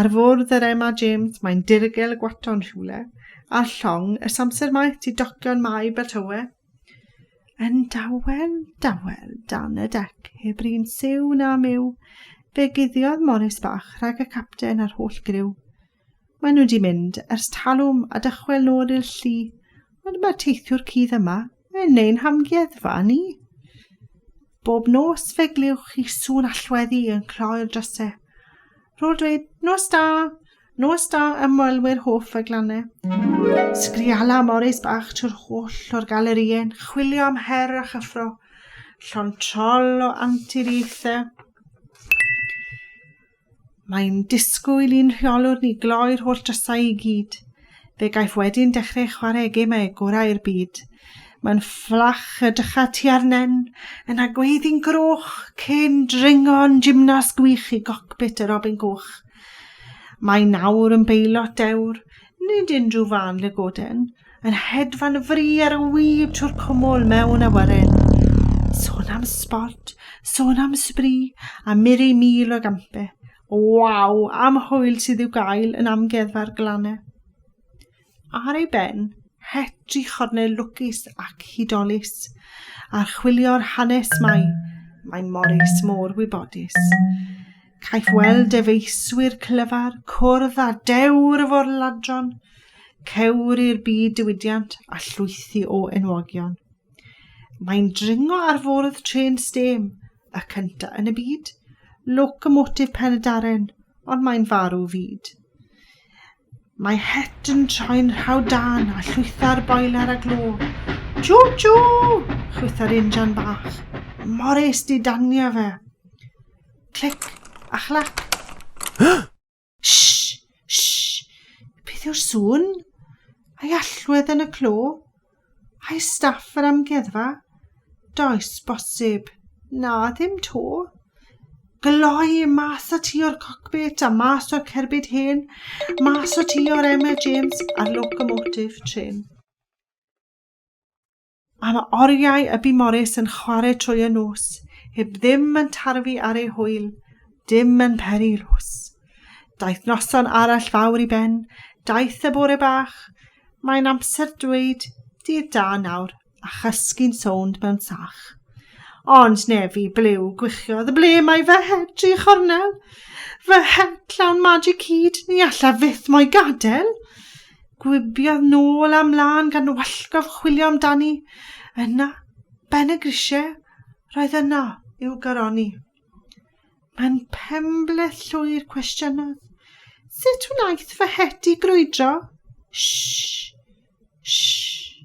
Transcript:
Ar fwrdd yr Emma James mae'n dirgel y gwaton rhywle, a llong ys amser maeth ti docio'n mai Beltowe. Yn dawel, dawel, dan y dec, heb rin siw na myw, fe guddiodd Morris bach rhag y capten a'r holl griw. Mae nhw di mynd ers talwm a dychwel nôl i'r llu, ond mae'r teithiwr cudd yma, Yn ein hamgueddfa ni, bob nos fe glywch chi sŵn allweddi yn cloi'r drysau. Rôl dweud, nos da, nos da ymwelwyr hoff y glannau. Sgriala Morris bach trwy'r holl o'r galerïau'n chwilio am her a chyffro, llon trol o anturiaethau. Mae'n disgwyl i'n rheolwr ni gloi'r holl drysau i gyd. Fe gaiff wedyn dechrau chwarae gemau gorau'r byd. Mae'n fflach y dycha ti arnen, yn agweiddi'n groch, cyn dringo'n gymnas gwych i gocbit y robin goch. Mae nawr yn beilot dewr, Nid unrhyw fân lygoden, yn hedfan fri ar y wib trwy'r cwmwl mewn awyren. Sôn am sbort, sôn am sbri, a mur ei mil o gampe. Waw, am hwyl sydd i'w gael yn amgueddfa'r glannau. Ar ei ben, het i chornel lwcus ac hudolus. Archwilio'r hanes mae, mae Morris mor wybodus. Caiff weld defaeswyr clyfar cwrdd â dewr y forladron, cewr i'r byd diwydiant a llwythi o enwogion. Mae'n dringo ar fwrdd trên stêm, y cyntaf yn y byd, locomotif Pen-y-daren, ond mae'n farw fyd. Mae het yn troi'n rhaw dan a llwytha'r boiler a glo. Chw chw! chwytha'r injan bach. Morris di danio fe. Clic a chlac. Shh! Shh! Beth yw'r sŵn? Ai allwedd yn y clo? Ai staff yr amgueddfa? Does bosib. Na, ddim to. Gloi mas o ti o'r cockpit a mas o'r cerbyd hen, mas o ti o'r Emma James a'r locomotive train. Mae yna oriau y bu Morris yn chwarae trwy y nos, heb ddim yn tarfu ar ei hwyl, dim yn peri los. Daeth noson arall fawr i ben, daeth y bore bach, mae'n amser dweud dydd da nawr a chysgu'n sownd mewn sach. Ond nefi, blew, gwichiodd, ble mae fy het, tri chornel? Fy het llawn magic hyd, ni alla fyth mo'i gadael. Gwibiodd nôl a mlân gan wallgof chwilio amdani. Yna, ben y grisiau, roedd yno i'w garoni. Mae'n pembleth llwyr cwestiynodd. Sut wnaeth fy het i grwydro? Sh! Sh!